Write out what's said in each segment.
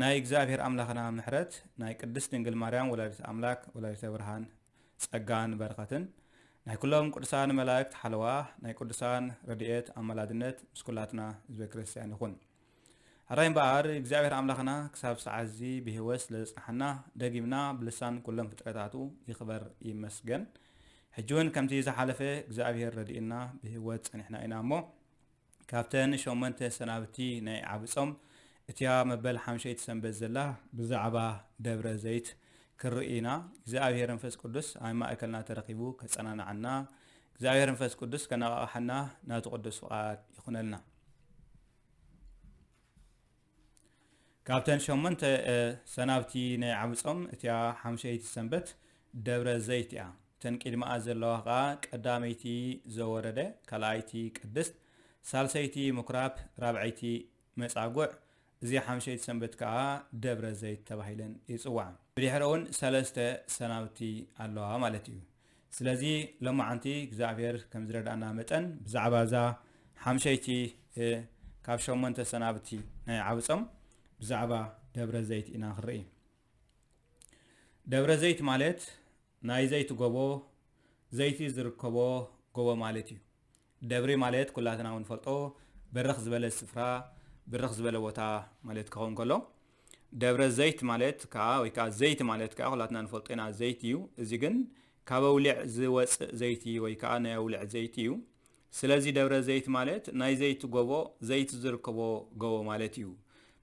ናይ እግዚኣብሔር ኣምላኽና ምሕረት ናይ ቅድስት ድንግል ማርያም ወላዲት ኣምላክ ወላዲተ ብርሃን ጸጋን በረኸትን ናይ ኩሎም ቅዱሳን መላእክት ሓለዋ ናይ ቅዱሳን ረድኤት ኣማላድነት ምስ ኩላትና ህዝበ ክርስቲያን ይኹን። ሕራይ እምበኣር እግዚኣብሔር ኣምላኽና ክሳብ ሰዓት እዚ ብህይወት ስለ ዘጽንሓና ደጊምና ብልሳን ኩሎም ፍጥረታቱ ይኽበር ይመስገን። ሕጂ እውን ከምቲ ዝሓለፈ እግዚኣብሔር ረድእና ብህይወት ጸኒሕና ኢና እሞ ካብተን ሸሞንተ ሰናብቲ ናይ ዓቢ ጾም እቲኣ መበል ሓምሸይቲ ሰንበት ዘላ ብዛዕባ ደብረ ዘይት ክርኢ ኢና። እግዚኣብሔር መንፈስ ቅዱስ ኣብ ማእከልና ተረኺቡ ከጸናንዓና፣ እግዚኣብሔር መንፈስ ቅዱስ ከነቓቕሓና ናቱ ቅዱስ ፍቓድ ይኹነልና። ካብተን ሸሞንተ ሰናብቲ ናይ ዓቢ ጾም እቲኣ ሓምሸይቲ ሰንበት ደብረ ዘይት እያ። እተን ቅድሚኣ ዘለዋ ከኣ ቀዳመይቲ ዘወረደ፣ ካልኣይቲ ቅድስት፣ ሳልሰይቲ ምኵራብ፣ ራብዐይቲ መጻጉዕ፣ እዚ ሓምሸይቲ ሰንበት ከኣ ደብረ ዘይት ተባሂለን ይጽውዓ። ብድሕረኡን ሰለስተ ሰናብቲ ኣለዋ ማለት እዩ። ስለዚ ሎማዓንቲ እግዚኣብሔር ከም ዝረዳእና መጠን ብዛዕባ እዛ ሓምሸይቲ ካብ ሸሞንተ ሰናብቲ ናይ ዓብፆም ብዛዕባ ደብረ ዘይት ኢና ክንርኢ ደብረ ዘይት ማለት ናይ ዘይት ጎቦ ዘይቲ ዝርከቦ ጎቦ ማለት እዩ ደብሪ ማለት ኩላትና ውን ንፈልጦ ብርኽ ዝበለ ስፍራ ብርኽ ዝበለ ቦታ ማለት ክኸውን ከሎ ደብረ ዘይት ማለት ከዓ ወይ ከዓ ዘይቲ ማለት ከዓ ኩላትና ንፈልጦ ኢና ዘይት እዩ እዚ ግን ካብ ኣውሊዕ ዝወፅእ ዘይቲ ወይ ከዓ ናይ ኣውሊዕ ዘይቲ እዩ ስለዚ ደብረ ዘይት ማለት ናይ ዘይቲ ጎቦ ዘይቲ ዝርከቦ ጎቦ ማለት እዩ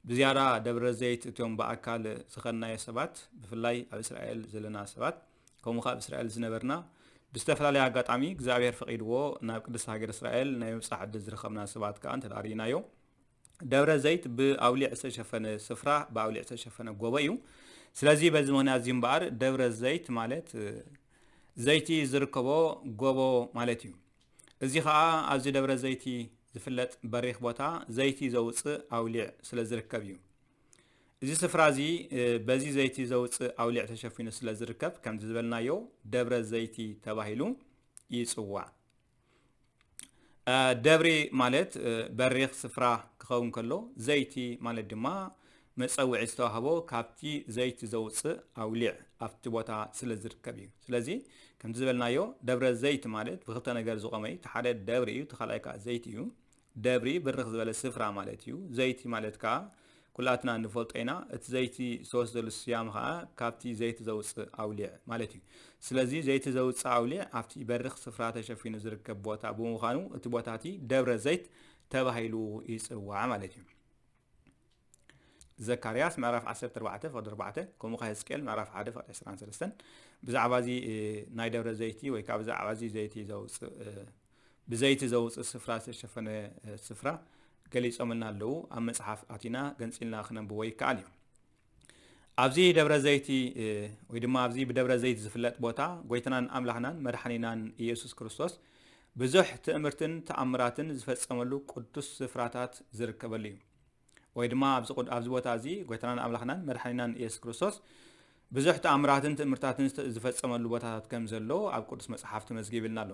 ብዝያዳ ደብረ ዘይት እቶም ብኣካል ዝኸናዮ ሰባት ብፍላይ ኣብ እስራኤል ዘለና ሰባት ከምኡ ከኣ ኣብ እስራኤል ዝነበርና ብዝተፈላለየ ኣጋጣሚ እግዚኣብሔር ፈቒድዎ ናብ ቅድስቲ ሃገር እስራኤል ናይ ምብጻሕ ዕድል ዝረኸብና ሰባት ከኣ እንተ ርእናዮ ደብረ ዘይት ብኣውሊዕ ዝተሸፈነ ስፍራ ብኣውሊዕ ዝተሸፈነ ጎቦ እዩ ስለዚ በዚ ምክንያት እዚ እምበኣር ደብረ ዘይት ማለት ዘይቲ ዝርከቦ ጎቦ ማለት እዩ እዚ ከዓ ኣብዚ ደብረ ዘይቲ ዝፍለጥ በሪኽ ቦታ ዘይቲ ዘውፅእ ኣውሊዕ ስለ ዝርከብ እዩ እዚ ስፍራ እዚ በዚ ዘይቲ ዘውፅእ ኣውሊዕ ተሸፊኑ ስለ ዝርከብ ከምዚ ዝበልናዮ ደብረ ዘይቲ ተባሂሉ ይፅዋዕ። ደብሪ ማለት በሪኽ ስፍራ ክኸውን ከሎ ዘይቲ ማለት ድማ መፀውዒ ዝተዋህቦ ካብቲ ዘይቲ ዘውፅእ ኣውሊዕ ኣብቲ ቦታ ስለ ዝርከብ እዩ ስለዚ ከምቲ ዝበልናዮ ደብረ ዘይቲ ማለት ብክልተ ነገር ዝቆመ እዩ እቲ ሓደ ደብሪ እዩ እቲ ካልኣይ ከዓ ዘይቲ እዩ ደብሪ ብርኽ ዝበለ ስፍራ ማለት እዩ። ዘይቲ ማለት ከኣ ኩላትና ንፈልጦ ኢና። እቲ ዘይቲ ሶስ ዘሉ ስያመ ከኣ ካብቲ ዘይቲ ዘውጽእ ኣውሊዕ ማለት እዩ። ስለዚ ዘይቲ ዘውጽእ ኣውሊዕ ኣብቲ በርኽ ስፍራ ተሸፊኑ ዝርከብ ቦታ ብምዃኑ እቲ ቦታ እቲ ደብረ ዘይት ተባሂሉ ይጽዋዕ ማለት እዩ። ዘካርያስ ምዕራፍ 14 ፍቅዲ 4 ከምኡ ከ ህዝቅኤል ምዕራፍ 1 ፍቅዲ 23 ብዛዕባ እዚ ናይ ደብረ ዘይቲ ወይ ከዓ ብዛዕባ እዚ ዘይቲ ዘውፅእ ብዘይቲ ዘውጽእ ስፍራ ዝተሸፈነ ስፍራ ገሊጾምልና ኣለዉ። ኣብ መጽሓፍ ኣቲና ገንጺልና ክነንብቦ ይከኣል እዩ። ኣብዚ ደብረ ዘይቲ ወይ ድማ ኣብዚ ብደብረ ዘይት ዝፍለጥ ቦታ ጎይትናን ኣምላኽናን መድሓኒናን ኢየሱስ ክርስቶስ ብዙሕ ትእምርትን ተኣምራትን ዝፈጸመሉ ቅዱስ ስፍራታት ዝርከበሉ እዩ። ወይ ድማ ኣብዚ ቦታ እዚ ጎይታናን ኣምላኽናን መድሓኒናን ኢየሱስ ክርስቶስ ብዙሕ ተኣምራትን ትእምርታትን ዝፈጸመሉ ቦታታት ከም ዘሎ ኣብ ቅዱስ መጽሓፍ ተመዝጊብልና ኣሎ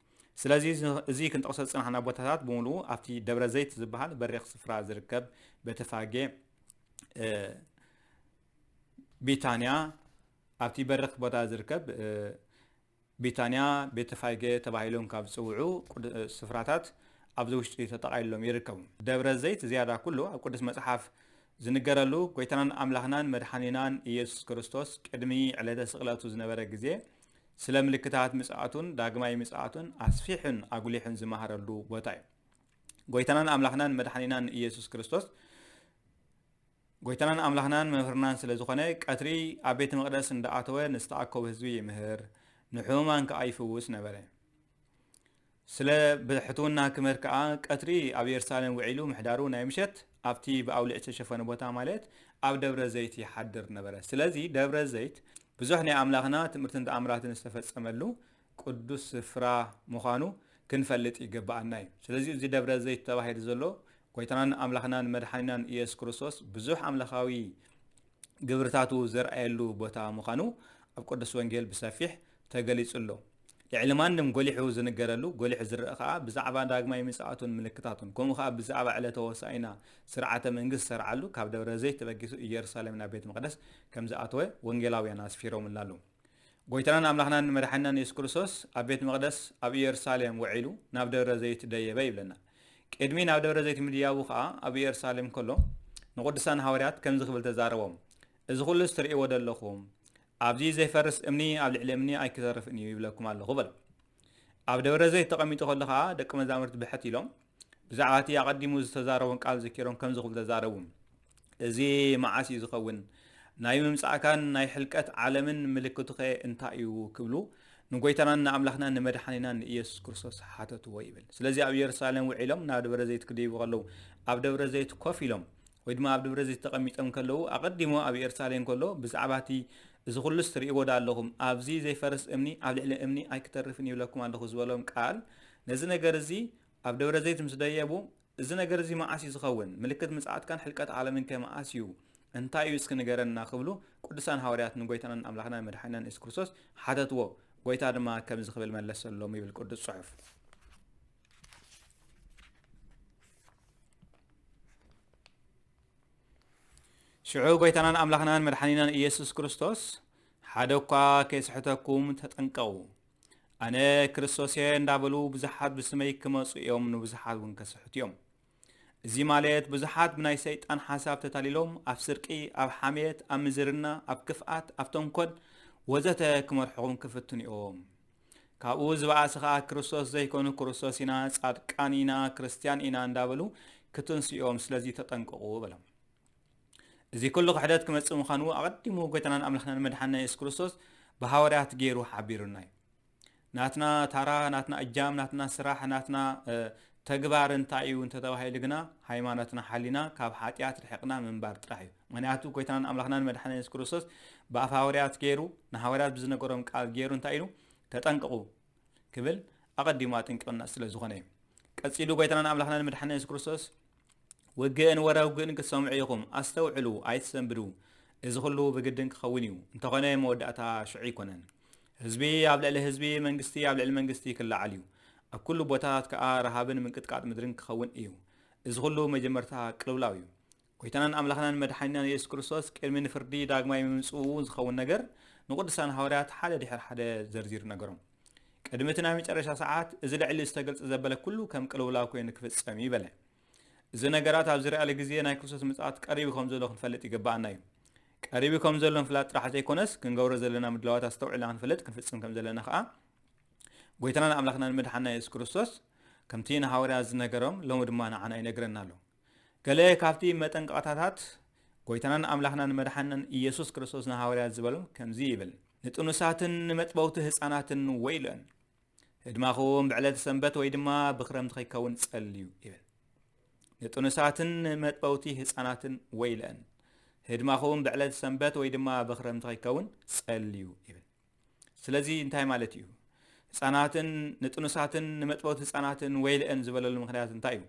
ስለዚ እዚ ክንጠቕሶ ዝጸናሕና ቦታታት ብምሉኡ ኣብቲ ደብረ ዘይት ዝበሃል በሪኽ ስፍራ ዝርከብ ቤተፋጌ ቢታንያ ኣብቲ በሪኽ ቦታ ዝርከብ ቢታንያ ቤተፋጌ ተባሂሎም ካብ ዝጽውዑ ስፍራታት ኣብዚ ውሽጢ ተጠቓይሎም ይርከቡ ደብረ ዘይት ዝያዳ ኩሉ ኣብ ቅዱስ መጽሓፍ ዝንገረሉ ጎይታናን ኣምላኽናን መድሓኒናን ኢየሱስ ክርስቶስ ቅድሚ ዕለተ ስቕለቱ ዝነበረ ግዜ ስለ ምልክታት ምጽኣቱን ዳግማይ ምጽኣቱን ኣስፊሑን ኣጉሊሑን ዝመሃረሉ ቦታ እዩ ጎይታናን ኣምላኽናን መድሓኒናን ኢየሱስ ክርስቶስ ጎይታናን ኣምላኽናን መምህርናን ስለ ዝኾነ ቀትሪ ኣብ ቤተ መቕደስ እንዳኣተወ ንዝተኣከቡ ህዝቢ ይምህር ንሕሙማን ከኣ ይፍውስ ነበረ ስለ ብሕትውና ክመር ከኣ ቀትሪ ኣብ የሩሳሌም ውዒሉ ምሕዳሩ ናይ ምሸት ኣብቲ ብኣውሊዕ ዝተሸፈነ ቦታ ማለት ኣብ ደብረ ዘይት ይሓድር ነበረ። ስለዚ ደብረ ዘይት ብዙሕ ናይ ኣምላኽና ትምህርትን ተኣምራትን ዝተፈጸመሉ ቅዱስ ስፍራ ምዃኑ ክንፈልጥ ይገባኣና እዩ። ስለዚ እዚ ደብረ ዘይት ተባሂሉ ዘሎ ጎይታናን ኣምላኽናን መድሓኒናን ኢየሱስ ክርስቶስ ብዙሕ ኣምላኻዊ ግብርታቱ ዘርኣየሉ ቦታ ምዃኑ ኣብ ቅዱስ ወንጌል ብሰፊሕ ተገሊጹ ኣሎ። ልዕሊ ማንም ጎሊሑ ዝንገረሉ፣ ጎሊሑ ዝረኣ ከኣ ብዛዕባ ዳግማይ ምጽኣቱን ምልክታቱን፣ ከምኡ ከኣ ብዛዕባ ዕለተ ሆሳኢና ስርዓተ መንግስት ዝሰርዓሉ ካብ ደብረ ዘይት ተበጊሱ ኢየሩሳሌም ናብ ቤት መቅደስ ከምዝኣተወ ወንጌላውያን ኣስፊሮምልና ኣለው። ጎይታናን ኣምላኽናን መድሓኒናን የሱስ ክርስቶስ ኣብ ቤት መቅደስ ኣብ ኢየሩሳሌም ውዒሉ ናብ ደብረ ዘይት ደየበ ይብለና። ቅድሚ ናብ ደብረ ዘይት ምድያቡ ኸኣ ኣብ ኢየሩሳሌም ከሎ ንቕዱሳን ሃዋርያት ከምዚ ክብል ተዛረቦም፣ እዚ ዅሉስ ትርእይዎ ዘለኹም፣ ኣብዚ ዘይፈርስ እምኒ ኣብ ልዕሊ እምኒ ኣይኪተርፍን እዩ ይብለኩም ኣለኹ በሎም። ኣብ ደብረ ዘይት ተቐሚጡ ከሎ ኸኣ ደቂ መዛሙርቲ ብሕት ኢሎም ብዛዕባ እቲ ኣቐዲሙ ዝተዛረቦም ቃል ዘኪሮም ከምዚ ክብሉ ተዛረቡ፣ እዚ መዓስ እዩ ዝኸውን? ናይ ምምጻእካን ናይ ሕልቀት ዓለምን ምልክቱኸ እንታይ እዩ? ክብሉ ንጎይታናን ንኣምላኽናን ንመድሓኒናን ንኢየሱስ ክርስቶስ ሓተትዎ ይብል። ስለዚ ኣብ ኢየሩሳሌም ውዒሎም ናብ ደብረ ዘይት ክድይቡ ከለዉ ኣብ ደብረ ዘይት ኮፍ ኢሎም ወይ ድማ ኣብ ደብረ ዘይት ተቐሚጦም ከለዉ ኣቐዲሞ ኣብ ኢየሩሳሌም ከሎ ብዛዕባ እቲ እዚ ኩሉስ ትርእይዎ ዶ ኣለኹም ኣብዚ ዘይፈርስ እምኒ ኣብ ልዕሊ እምኒ ኣይክተርፍን ይብለኩም ኣለኹ ዝበሎም ቃል ነዚ ነገር እዚ ኣብ ደብረ ዘይት ምስ ደየቡ እዚ ነገር እዚ መዓስ እዩ ዝኸውን? ምልክት ምጽኣትካን ሕልቀት ዓለምንከ መዓስ እዩ? እንታይ እዩ እስኪ ንገረና ክብሉ ቅዱሳን ሃዋርያት ንጐይታናን ኣምላኽናን መድሓኒናን የሱስ ክርስቶስ ሓተትዎ። ጐይታ ድማ ከምዚ ክብል መለሰሎም ይብል ቅዱስ ጽሑፍ። ሽዑ ጐይታናን ኣምላኽናን መድሓኒናን ኢየሱስ ክርስቶስ ሓደ እኳ ከይስሕተኩም ተጠንቀቑ፣ ኣነ ክርስቶስ እየ እንዳበሉ ብዙሓት ብስመይ ክመጹ እዮም፣ ንብዙሓት እውን ከስሕቱ እዮም። እዚ ማለት ብዙሓት ብናይ ሰይጣን ሓሳብ ተታሊሎም ኣብ ስርቂ፣ ኣብ ሓምየት፣ ኣብ ምዝርና፣ ኣብ ክፍኣት፣ ኣብ ተንኮል ወዘተ ክመርሕኹም ክፍትኑ እዮም። ካብኡ ዝበኣሰ ኸኣ ክርስቶስ ዘይኮኑ ክርስቶስ ኢና፣ ጻድቃን ኢና፣ ክርስትያን ኢና እንዳበሉ ክትንሱ እዮም፣ ስለዚ ተጠንቀቑ በሎም። እዚ ኩሉ ክሕደት ክመጽእ ምዃኑ ኣቐዲሙ ጎይታናን ኣምላኽናን መድሓና የሱስ ክርስቶስ ብሃዋርያት ገይሩ ሓቢሩና እዩ። ናትና ታራ፣ ናትና እጃም፣ ናትና ስራሕ፣ ናትና ተግባር እንታይ እዩ እንተተባሂሉ ግና ሃይማኖትና ሓሊና ካብ ሓጢኣት ርሕቕና ምንባር ጥራሕ እዩ። ምክንያቱ ጎይታናን ኣምላኽናን መድሓና የሱስ ክርስቶስ ብኣፍ ሃዋርያት ገይሩ ንሃዋርያት ብዝነገሮም ቃል ገይሩ እንታይ ኢሉ ተጠንቅቑ ክብል ኣቐዲሙ ኣጠንቂቕና ስለ ዝኾነ እዩ። ቀጺሉ ጎይታናን ኣምላኽናን መድሓና የሱስ ክርስቶስ ውግእን ወረ ውግእን ክትሰምዑ ኢኹም፣ ኣስተውዕሉ፣ ኣይትሰንብዱ። እዚ ኹሉ ብግድን ክኸውን እዩ፣ እንተኾነ መወዳእታ ሽዑ ኣይኮነን። ህዝቢ ኣብ ልዕሊ ህዝቢ፣ መንግስቲ ኣብ ልዕሊ መንግስቲ ክለዓል እዩ። ኣብ ኩሉ ቦታታት ከኣ ረሃብን ምንቅጥቃጥ ምድርን ክኸውን እዩ። እዚ ኹሉ መጀመርታ ቅልውላው እዩ። ጎይታናን ኣምላኽናን መድሓኒናን የሱስ ክርስቶስ ቅድሚ ንፍርዲ ዳግማይ ምምጽኡ ዝኸውን ነገር ንቅዱሳን ሃዋርያት ሓደ ድሕሪ ሓደ ዘርዚሩ ነገሮም። ቅድሚ እቲ ናይ መጨረሻ ሰዓት እዚ ልዕሊ ዝተገልጸ ዘበለ ኩሉ ከም ቅልውላው ኮይኑ ክፍጸም እዩ በለ። እዚ ነገራት ኣብ ዝርኣሉ ግዜ ናይ ክርስቶስ ምጽኣት ቀሪቡ ከም ዘሎ ክንፈልጥ ይግብኣና እዩ። ቀሪቡ ከም ዘሎ ምፍላጥ ጥራሕ ዘይኮነስ ክንገብሮ ዘለና ምድላዋት ኣስተውዒልና ክንፈልጥ ክንፍጽም ከም ዘለና ከኣ ጎይታናን ኣምላኽናን መድሓና የሱስ ክርስቶስ ከምቲ ንሃዋርያት ዝነገሮም ሎሚ ድማ ንዓና ይነግረና ኣሎ። ገለ ካብቲ መጠንቀቕታታት ጐይታናን ኣምላኽናን መድሓንናን ኢየሱስ ክርስቶስ ንሃዋርያት ዝበሎም ከምዚ ይብል፣ ንጥኑሳትን ንመጥበውቲ ህጻናትን ወይሎን! ህድማኹም ብዕለተ ሰንበት ወይ ድማ ብክረምቲ ከይከውን ጸልዩ ይብል። ንጥኑሳትን ንመጥበውቲ ህጻናትን ወይለን! ህድማኹም ብዕለተ ሰንበት ወይ ድማ ብክረምቲ ከይከውን ጸልዩ ይብል። ስለዚ እንታይ ማለት እዩ? ህፃናትን ንጥኑሳትን ንመጥበውት ህፃናትን ወይልአን ዝበለሉ ምክንያት እንታይ እዩ?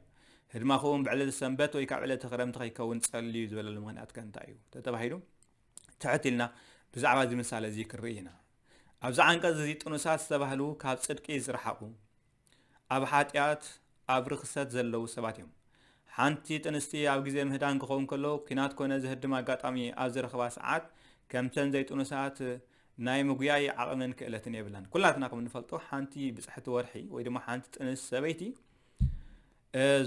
ህድማኹ እውን ብዕለተ ሰንበት ወይ ካብ ዕለተ ክረምቲ ከይከውን ጸልዩ ዝበለሉ ምክንያት ከ እንታይ እዩ? ተተባሂሉ ትሕት ኢልና ብዛዕባ እዚ ምሳለ እዚ ክንርኢ ኢና። ኣብዚ ዓንቀፅ እዚ ጥኑሳት ዝተባህሉ ካብ ፅድቂ ዝረሓቑ፣ ኣብ ሓጢኣት ኣብ ርኽሰት ዘለዉ ሰባት እዮም። ሓንቲ ጥንስቲ ኣብ ግዜ ምህዳን ክኸውን ከሎ ኩናት ኮነ ዘህድም ኣጋጣሚ ኣብ ዝረኽባ ሰዓት ከምተን ዘይጥኑሳት ናይ ምጉያይ ዓቕምን ክእለትን የብላን። ኩላትና ከም እንፈልጦ ሓንቲ ብጽሕቲ ወርሒ ወይ ድማ ሓንቲ ጥንስ ሰበይቲ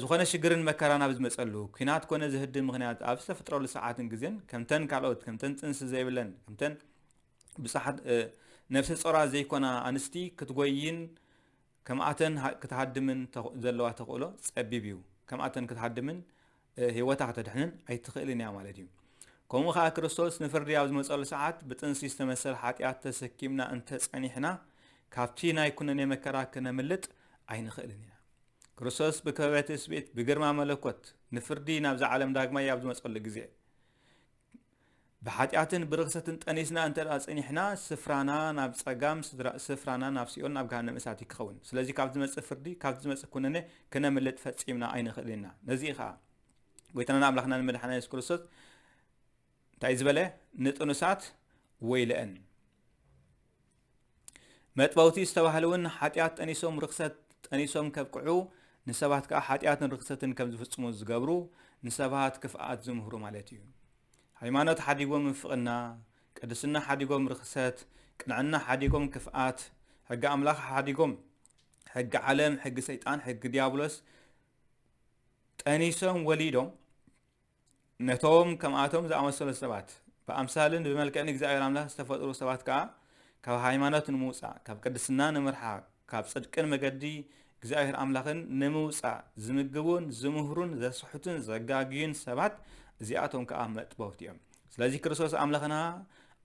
ዝኾነ ሽግርን መከራን ኣብ ዝመጸሉ ኩናት ኮነ ዘህድም ምክንያት ኣብ ዝተፈጥረሉ ሰዓትን ግዜን ከምተን ካልኦት ከምተን ጥንሲ ዘይብለን ከምተን ብዙሓት ነብሰ ጾራት ዘይኮና ኣንስቲ ክትጎይን ከምኣተን ክትሃድምን ዘለዋ ተኽእሎ ጸቢብ እዩ። ከምኣተን ክትሃድምን ህይወታ ከተድሕንን ኣይትኽእልን እያ ማለት እዩ። ከምኡ ከኣ ክርስቶስ ንፍርዲ ኣብ ዝመጸሉ ሰዓት ብጥንሲ ዝተመሰለ ሓጢኣት ተሰኪምና እንተ ጸኒሕና ካብቲ ናይ ኩነኔ መከራ ክነምልጥ ኣይንኽእልን ኢና። ክርስቶስ ብክበበ ትስብእት ብግርማ መለኮት ንፍርዲ ናብዛ ዓለም ዳግማይ ኣብ ዝመጸሉ ግዜ ብሓጢኣትን ብርኽሰትን ጠኒስና እንተ ደኣ ጸኒሕና፣ ስፍራና ናብ ጸጋም፣ ስድራ ስፍራና ናብ ሲኦል፣ ናብ ገሃነም እሳት እዩ ኪኸውን። ስለዚ ካብ ዚመጽእ ፍርዲ፣ ካብቲ ዚመጽእ ኩነኔ ክነምልጥ ፈጺምና ኣይንኽእልን ኢና። ነዚ እዩ ከኣ ጎይታናን ኣምላኽናን መድሓና የሱስ ክርስቶስ እንታይ ዝበለ? ንጥኑሳት ወይለአን! መጥበውቲ ዝተባህሉ እውን ንሓጢኣት ጠኒሶም ርኽሰት ጠኒሶም ከብቅዑ ንሰባት ከዓ ሓጢኣትን ርኽሰትን ከም ዝፍጽሙ ዝገብሩ ንሰባት ክፍኣት ዝምህሩ ማለት እዩ ሃይማኖት ሓዲጎም ምፍቕና ቅድስና ሓዲጎም ርኽሰት ቅንዕና ሓዲጎም ክፍኣት ሕጊ ኣምላኽ ሓዲጎም ሕጊ ዓለም ሕጊ ሰይጣን ሕጊ ዲያብሎስ ጠኒሶም ወሊዶም ነቶም ከምኣቶም ዝኣመሰሉ ሰባት፣ ብኣምሳልን ብመልክዕን እግዚኣብሔር ኣምላኽ ዝተፈጥሩ ሰባት ከኣ፣ ካብ ሃይማኖት ንምውጻእ፣ ካብ ቅድስና ንምርሓቕ፣ ካብ ጽድቅን መገዲ እግዚኣብሔር ኣምላኽን ንምውጻእ ዝምግቡን ዝምህሩን ዘስሕቱን ዘጋግዩን ሰባት እዚኣቶም ከኣ መጥበውቲ እዮም። ስለዚ ክርስቶስ ኣምላኽና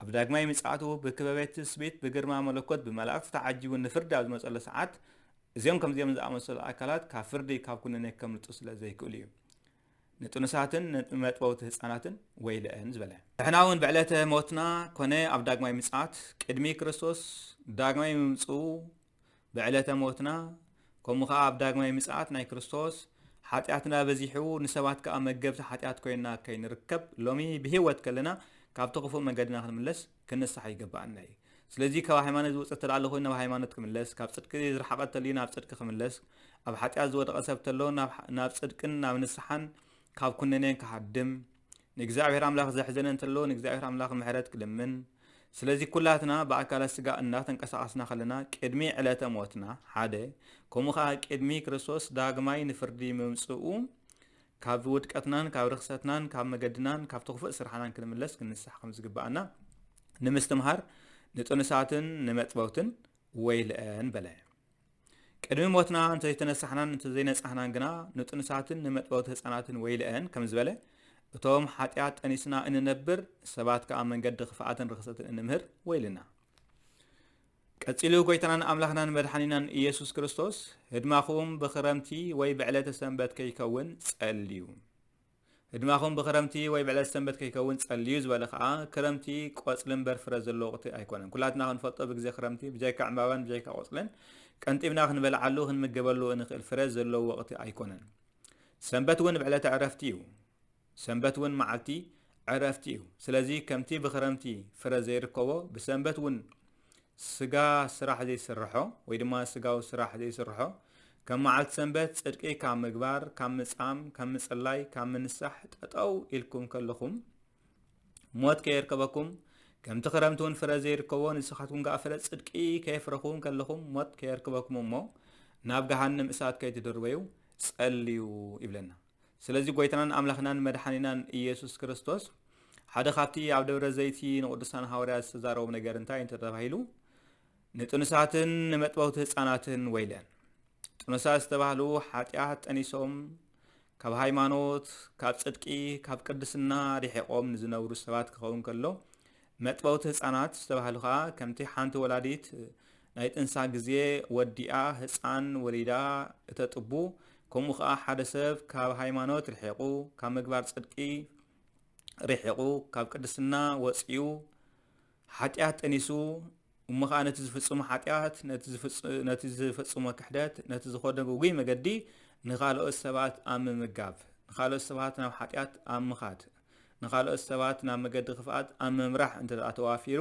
ኣብ ዳግማይ ምጽኣቱ ብክበቤት ትስብእት ብግርማ መለኮት ብመላእክቲ ተዓጂቡ ንፍርዲ ኣብ ዝመጸሉ ሰዓት እዚኦም ከምዚኦም ዝኣመሰሉ ኣካላት ካብ ፍርዲ ካብ ኩነኔ ከምልጡ ስለ ዘይክእሉ እዩ። ንጥኑሳትን ንመጥበውቲ ህጻናትን ወይለአን ዝበለ። ንሕና እውን ብዕለተ ሞትና ኮነ ኣብ ዳግማይ ምጽኣት ቅድሚ ክርስቶስ ዳግማይ ምምጽኡ ብዕለተ ሞትና ከምኡ ከኣ ኣብ ዳግማይ ምጽኣት ናይ ክርስቶስ ሓጢኣትና በዚሑ ንሰባት ከኣ መገብቲ ሓጢኣት ኮይና ከይንርከብ ሎሚ ብህይወት ከለና ካብቲ ክፉእ መንገድና ክንምለስ ክንሳሕ ይገባኣና እዩ ስለዚ ካብ ሃይማኖት ዝወፀ እተ ኣሎ ኮይኑ ናብ ሃይማኖት ክምለስ ካብ ፅድቂ ዝረሓቐ እተልዩ ናብ ፅድቂ ክምለስ ኣብ ሓጢኣት ዝወደቐ ሰብ ተሎ ናብ ፅድቅን ናብ ንስሓን ካብ ኩነኔን ክሃድም ንእግዚኣብሔር ኣምላኽ ዘሕዘነ እንተሎ ንእግዚኣብሔር ኣምላኽ ምሕረት ክልምን ስለዚ ኩላትና ብኣካለ ስጋ እናተንቀሳቐስና ከለና ቅድሚ ዕለተ ሞትና ሓደ ከምኡ ከዓ ቅድሚ ክርስቶስ ዳግማይ ንፍርዲ ምምፅኡ ካብ ውድቀትናን ካብ ርኽሰትናን ካብ መገድናን ካብቲ ክፉእ ስራሕናን ክንምለስ ክንንሳሕ ከም ዝግብኣና ንምስትምሃር ንጥኑሳትን ንመጥበውትን ወይልአን በለ። ቅድሚ ሞትና እንተዘይተነሳሕናን እንተዘይነጻሕናን ግና ንጥኑሳትን ንመጥበውቲ ህፃናትን ወይልአን ከም ዝበለ እቶም ሓጢኣት ጠኒስና እንነብር ሰባት ከዓ መንገዲ ክፍኣትን ርኽሰትን እንምህር ወይልና። ቀጺሉ ጎይታናን ኣምላኽናን መድሓኒናን እየሱስ ክርስቶስ ህድማኹም ብኽረምቲ ወይ ብዕለተ ሰንበት ከይከውን ጸልዩ ህድማኹም ብኽረምቲ ወይ ብዕለተ ሰንበት ከይከውን ጸልዩ ዝበለ ከኣ ክረምቲ ቆጽሊ እምበር ፍረ ዘለዎ ወቕቲ ኣይኮነን ኩላትና ክንፈልጦ ብግዜ ክረምቲ ብጀካ ዕምባባን ብጀካ ቆጽልን ቀንጢብና ክንበልዓሉ ክንምገበሉ እንኽእል ፍረ ዘለዎ ወቕቲ ኣይኮነን ሰንበት እውን ብዕለተ ዕረፍቲ እዩ ሰንበት እውን መዓልቲ ዕረፍቲ እዩ። ስለዚ ከምቲ ብክረምቲ ፍረ ዘይርከቦ ብሰንበት እውን ስጋ ስራሕ ዘይስርሖ ወይ ድማ ስጋዊ ስራሕ ዘይስርሖ ከም መዓልቲ ሰንበት ጽድቂ ካብ ምግባር ካብ ምጻም ካብ ምጽላይ ካብ ምንሳሕ ጠጠው ኢልኩም ከለኹም ሞት ከየርከበኩም ከምቲ ክረምቲ እውን ፍረ ዘይርከቦ ንስኻትኩም ከዓ ፍረ ጽድቂ ከየፍረኹም ከለኹም ሞት ከየርክበኩም እሞ ናብ ገሃንም እሳት ከይትድርበዩ ጸልዩ ይብለና ስለዚ ጎይታናን ኣምላኽናን መድሓኒናን እየሱስ ክርስቶስ ሓደ ካብቲ ኣብ ደብረ ዘይቲ ንቕዱሳን ሃዋርያት ዝተዛረቦም ነገር እንታይ እንተተባሂሉ ንጥኑሳትን ንመጥበውቲ ህፃናትን ወይለን ጥኑሳት ዝተባህሉ ሓጢኣት ጠኒሶም ካብ ሃይማኖት ካብ ፅድቂ ካብ ቅድስና ርሒቖም ንዝነብሩ ሰባት ክኸውን ከሎ መጥበውቲ ህጻናት ዝተባህሉ ከኣ ከምቲ ሓንቲ ወላዲት ናይ ጥንሳ ግዜ ወዲኣ ህጻን ወሊዳ እተጥቡ ከምኡ ከኣ ሓደ ሰብ ካብ ሃይማኖት ርሒቑ ካብ ምግባር ጽድቂ ርሒቑ ካብ ቅድስና ወጺኡ ሓጢኣት ጠኒሱ እሞ ኸኣ ነቲ ዝፍጽሞ ሓጢኣት፣ ነቲ ዝፈጽሞ ክሕደት፣ ነቲ ዝኸዶ ግጉይ መገዲ ንኻልኦት ሰባት ኣብ ምምጋብ፣ ንኻልኦት ሰባት ናብ ሓጢኣት ኣብ ምኻድ፣ ንኻልኦት ሰባት ናብ መገዲ ክፍኣት ኣብ ምምራሕ እንተ ደኣ ተዋፊሩ፣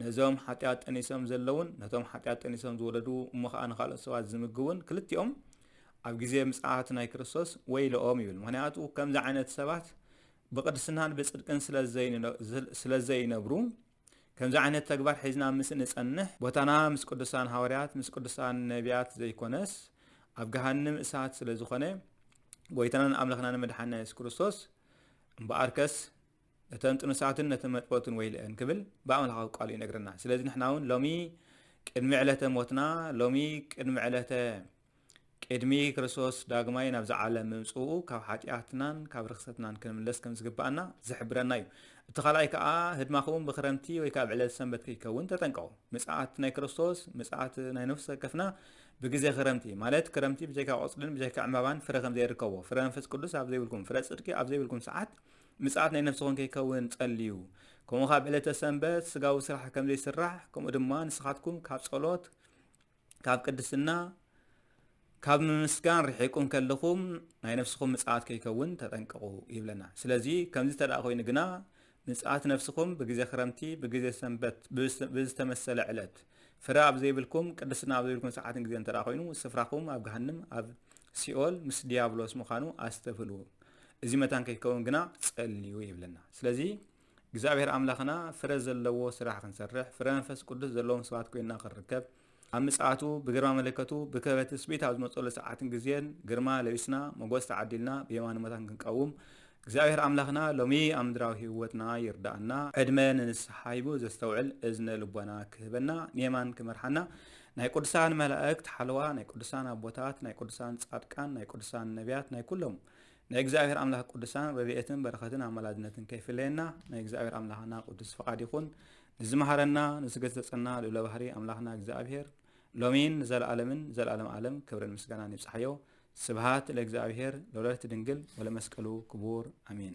ነዞም ሓጢኣት ጠኒሶም ዘለዉን ነቶም ሓጢኣት ጠኒሶም ዝወለዱ እሞ ኸኣ ንኻልኦት ሰባት ዝምግቡን ክልቲኦም ኣብ ግዜ ምጽኣት ናይ ክርስቶስ ወይልኦም ይብል። ምክንያቱ ከምዚ ዓይነት ሰባት ብቕድስናን ብጽድቅን ስለ ዘይነብሩ ከምዚ ዓይነት ተግባር ሒዝና ምስ እንጸንሕ፣ ቦታና ምስ ቅዱሳን ሃዋርያት ምስ ቅዱሳን ነብያት ዘይኮነስ ኣብ ገሃንም እሳት ስለ ዝኾነ፣ ጎይታናን ኣምላኽናን መድሓኒና የሱስ ክርስቶስ እምበኣርከስ ነተን ጥኑሳትን ነተን መጥበውትን ወይልኤን ክብል ብኣምላኻዊ ቃሉ ይነግረና። ስለዚ ንሕና እውን ሎሚ ቅድሚ ዕለተ ሞትና ሎሚ ቅድሚ ዕለተ ቅድሚ ክርስቶስ ዳግማይ ናብዚ ዓለም ምምጽኡ ካብ ሓጢኣትናን ካብ ርኽሰትናን ክንምለስ ከም ዝግብኣና ዝሕብረና እዩ። እቲ ካልኣይ ከኣ ህድማኹም ብክረምቲ ወይ ከኣ ብዕለት ሰንበት ከይከውን ተጠንቀቑ። ምጽኣት ናይ ክርስቶስ ምጽኣት ናይ ነፍሲ ወከፍና ብግዜ ክረምቲ ማለት ክረምቲ ብጀካ ቆጽልን ብጀካ ዕምባባን ፍረ ከም ዘይርከቦ ፍረ መንፈስ ቅዱስ ኣብ ዘይብልኩም ፍረ ጽድቂ ኣብ ዘይብልኩም ሰዓት ምጽኣት ናይ ነፍስኹም ከይከውን ጸልዩ ከምኡ ካብ ዕለተ ሰንበት ስጋዊ ስራሕ ከም ዘይስራሕ ከምኡ ድማ ንስኻትኩም ካብ ጸሎት ካብ ቅድስና ካብ ምምስጋን ርሒቁም ከለኹም ናይ ነፍስኹም ምጽኣት ከይከውን ተጠንቀቑ ይብለና። ስለዚ ከምዚ እንተ ኮይኑ ግና ምጽኣት ነፍስኹም ብግዜ ክረምቲ ብግዜ ሰንበት ብዝተመሰለ ዕለት ፍረ ኣብ ዘይብልኩም ቅድስና ኣብ ዘይብልኩም ሰዓትን ግዜ እንተ ኮይኑ ስፍራኹም ኣብ ገሃንም ኣብ ሲኦል ምስ ዲያብሎስ ምዃኑ ኣስተብህሉ እዚ መታን ከይከውን ግና ጸልዩ ይብለና ስለዚ እግዚኣብሔር ኣምላኽና ፍረ ዘለዎ ስራሕ ክንሰርሕ ፍረ መንፈስ ቅዱስ ዘለዎም ሰባት ኮይንና ክንርከብ ኣብ ምጽኣቱ ብግርማ መለከቱ ብክብረ ትስቢት ኣብ ዝመፀሉ ሰዓትን ግዜን ግርማ ለቢስና መጎስ ተዓዲልና ብየማን መታን ክንቀውም እግዚኣብሔር ኣምላኽና ሎሚ ኣብ ምድራዊ ህይወትና ይርዳእና ዕድመ ንንስሓ ሂቡ ዘስተውዕል እዝነ ልቦና ክህበና ንየማን ክመርሓና ናይ ቅዱሳን መላእክት ሓለዋ ናይ ቅዱሳን ኣቦታት ናይ ቅዱሳን ጻድቃን ናይ ቅዱሳን ነቢያት ናይ ኩሎም ናይ እግዚኣብሔር ኣምላክ ቅዱሳን ረድኤትን በረከትን ኣማላድነትን ከይፍለየና ናይ እግዚኣብሔር ኣምላክና ቅዱስ ፍቃድ ይኹን ንዝመሃረና ንዝገሰጸና ልብለ ባህሪ ኣምላክና እግዚኣብሔር ሎሚን ንዘለዓለምን ዘለዓለም ዓለም ክብርን ምስጋናን ይብጻሕዮ ስብሃት ለእግዚኣብሔር ለወላዲቱ ድንግል ወለመስቀሉ ክቡር ኣሜን